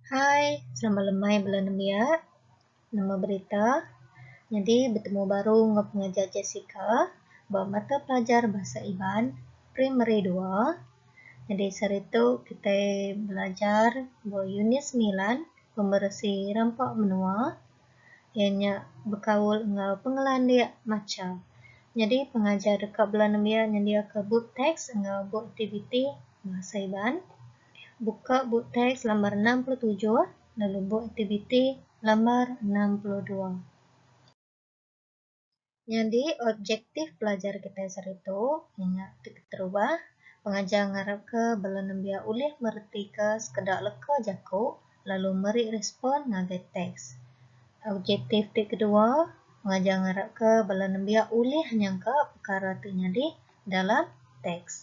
Hai, selamat lemai bala nembiak. Nama berita? Nyadi betemu baru enggau pengajar Jessica ba mata pelajar Bahasa Iban Primary dua. Nyadi sehari tu kitai belajar ba unit semilan, Pemeresi Rampa Menua. Iya nya bekaul enggau pengelandik macha. Nyadi pengajar deka bela nembiak nyendiaka bup teks enggau bup aktiviti Bahasa Iban. Buka bup teks lambar enam puluh tujuh lalu bup aktiviti lambar enam puluh dua. Nyadi objektif pelajar kitai sehari tu inya ti keterubah, pengajar ngarapka bala nembiak ulih meretika sekeda leka jaku lalu meri respon ngagai teks. Objektif ti kedua, pengajar ngarapka bala nembiak ulih nyangka pekara ti nyadi dalam teks.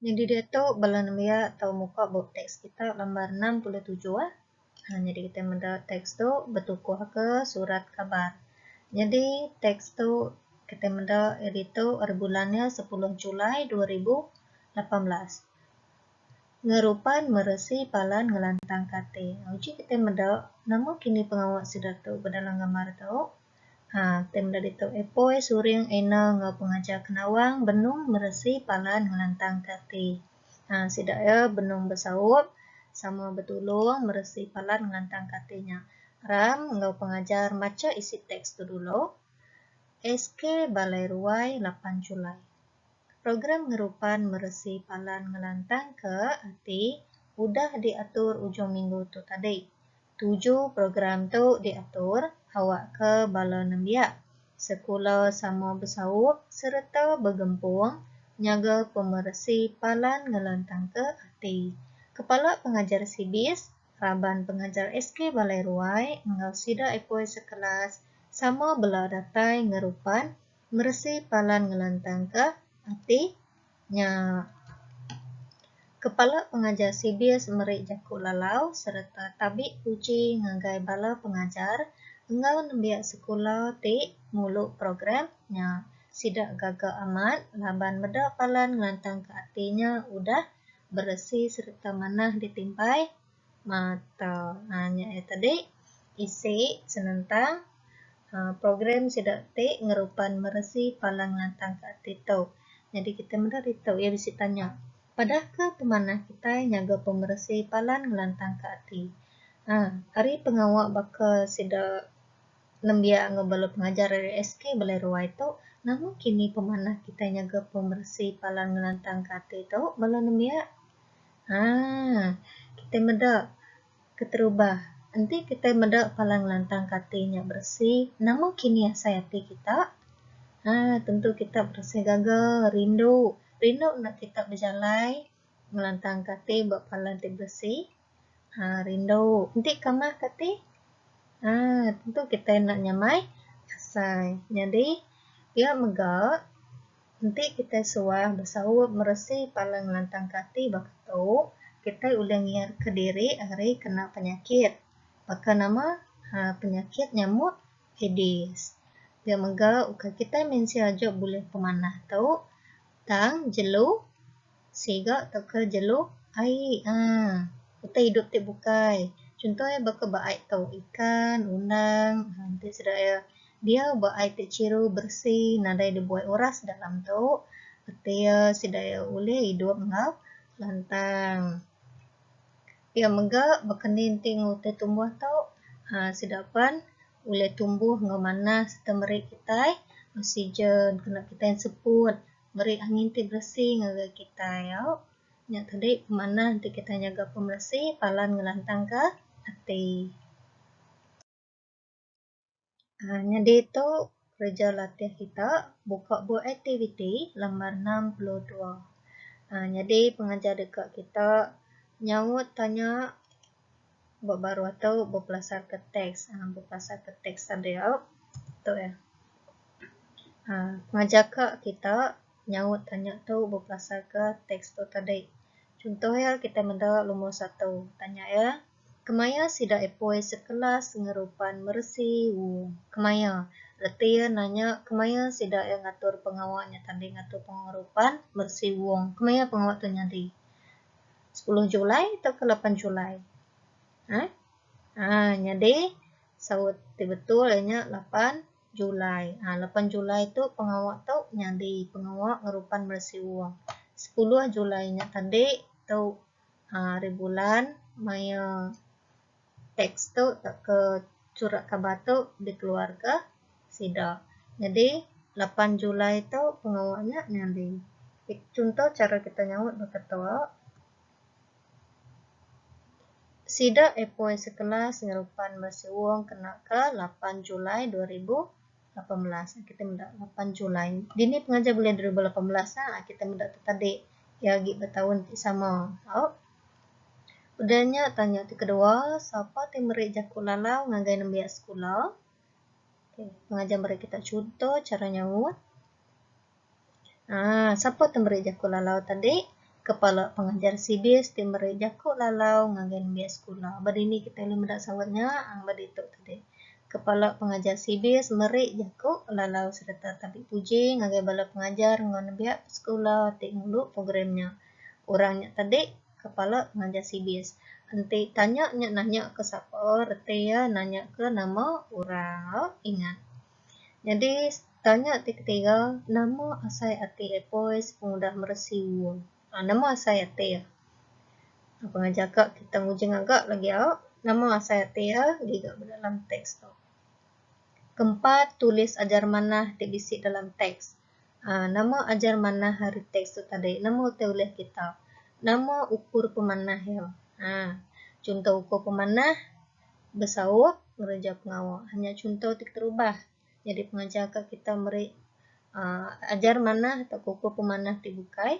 Nyadi diatu bala nembiak tau muka bup teks kita lembar enam puluh tujuh ah. Aaa nyadi kita meda teks tu betukuh ke surat kabar. Nyadi teks tu kita meda iya ditu ari bulan nya sepuluh Julai dua ribu lapan belas. Ngerupan meresi palan ngelantangka ati. Uji kita meda nama kini pengawa sida tu bedalam gambar tu. Haa, ti meda ditu, epoi, suring, eno enggau pengajar ke nawang benung meresi palan ngelantangka ati. Haa, sida iya benung besaup sama betulung meresi palan ngelantangka ati nya. Ram enggau pengajar macha isi teks tu dulu. SK Balai Ruai, lapan Julai. Program ngerupan meresi palan ngelantangka ati udah diatur ujung minggu tu tadi. Tuju program tu diatur awakka bala nembiak sekula sama besaup sereta begempung nyaga pemeresi palan ngelantangka ati. Kepala Pengajar Sibis, Raban Pengajar SK Balai Ruai enggau sida epoi sekelas sama bela datai ngerupan meresi palan ngelantangka ati Nya, Kepala Pengajar Cbis meri jaku lalau sereta tabi puji ngagai bala pengajar enggau nembiak sekula ti ngulu program nya. Sida gaga amat laban meda palan ngelantangka ati nya udah beresi sereta manah ditimbai mata um nya ia tadi isi senentang um program sida ti ngerupan meresi palan ngelantang ke ati tau nyadi kita meda ditu ia bisi tanya padah ke pemanah kitai nyaga pemeresi palan ngelantang ke ati um ari pengawa baka sida nembiak enggau bala pengajar ari SK balai ruai tu nama kini pemanah kitai nyaga pemeresi palan ngelantang ke ati tu bala nembiak Haa. Kitai meda keterubah. Enti kitai meda pala ngelantangka ati nya beresi, nama kinih asai ati kita? Haa, tentu kita berasai gaga, rindu. Rindu enda kita bejalai ngelantangka ati ba pala ti beresi. Haa, rindu. Enti kamahka ati? Haa, tentu kitai enda nyamai asai. Nyadi, pia mega. Enti kitai suah besaup meresi pala ngelantangka ati baka tu, kitai ulih ngiyatka diri ari kena penyakit baka nama penyakit nyamut Aedes. Nya mega ukai kitai mensia aja bulih pemanah tu tang jelu. Siga teka jelu ai uhh. Utai idup ti bukai. Chunto iya baka ba ai tu, ikan, undang uhh enti sida iya diau ba ai ti chiru, beresi nadai dibuai uras dalam tu reti iya sida iya ulih idup enggau lantang. Pia mega baka ni enti enggau utai tumbuh tu uhh sida pen ulih tumbuh enggau manah sereta meri kitai oksigen kena kitai seput. meri angin ti beresi ngagai kitai au. Nya tadi pemanah enti kitai nyaga pemeresi palan ngelantangka ati. Aaa nyadi tu kereja latih kita buka bup aktiviti lambar enam puluh dua. Aaa nyadi pengajar deka kita nyaut tanya. ba baruh ato bepelasar ke teks um bepelasar ke teks da dia tu ea um ngajar ka kita nyaut tanya tu bepelasar ke teks tu tadi. Contoh ea kita meda lomor satu tanya ea kemaya sida epoi sekelas ngerupan meresi u kemaya reti ea nanya kemaya sida ea ngatur pengawa nya tadi ngatur pengerupan meresi wong kemaya pengawa tu nyadi. Sepuluh Julai tauka lapan Julai? Haa? Haa nyadi saut ti betul iya nya lapan Julai. Haa lapan Julai tu pengawa tu nyadi pengawa ngerupan meresiung. Sepuluh Julai nya tadi tu haa ari bulan maya. Teks tu tauka chura kabar tu dikeluarka sida. Nyadi lapan Julai tu pengawa nya nyadi chunto chara kita nyaut beketua. Sida epoi sekelas ngerupan ba Siwung kena ke lapan Julai dua ribu lapan belas. Kita meda lapan Julai. Dini pengajar bulih dua ribu lapan belas a kita meda tu tadi. Iya agi ba taun ti sama. Au. Udah nya tanya ti kedua sapa ti meri jaku lalau ngagai nembiak sekula pengajar meri kita chunto chara nyaut aaa sapa ti meri jaku lalau ti tadi kepala pengajar CBIS ti meri jaku lalau ngagai nembiak sekula ba dini kita ulih meda saut nya ba ditu tadi kepala pengajar CBIS meri jaku lalau sereta tapi puji ngagai bala pengajar enggau nembiak sekula ti ngulu program nya. Orang nya tadi kepala pengajar CBIS enti tanya nya nanya ke sapa reti iya nanya ke nama orang au ingat. Nyadi tanya ti ketiga nama asai ati Epoy sepengudah meresi ua. Aaa nama asai ati iya. Pengajar ka kita nguji ngaga lagi au nama asai ati iya giga ba dalam teks tu. Keempat tulis ajar manah ti bisi dalam teks. A. Nama ajar manah ari teks tu tadi? Nama utai ulih kita? Nama ukur pemanah iya? A. Chunto ukur pemanah besaup ngereja pengawa. Nya chunto ti keterubah. Nyadi pengajar ka kita meri ajar manah tauka ukur pemanah ti bukai.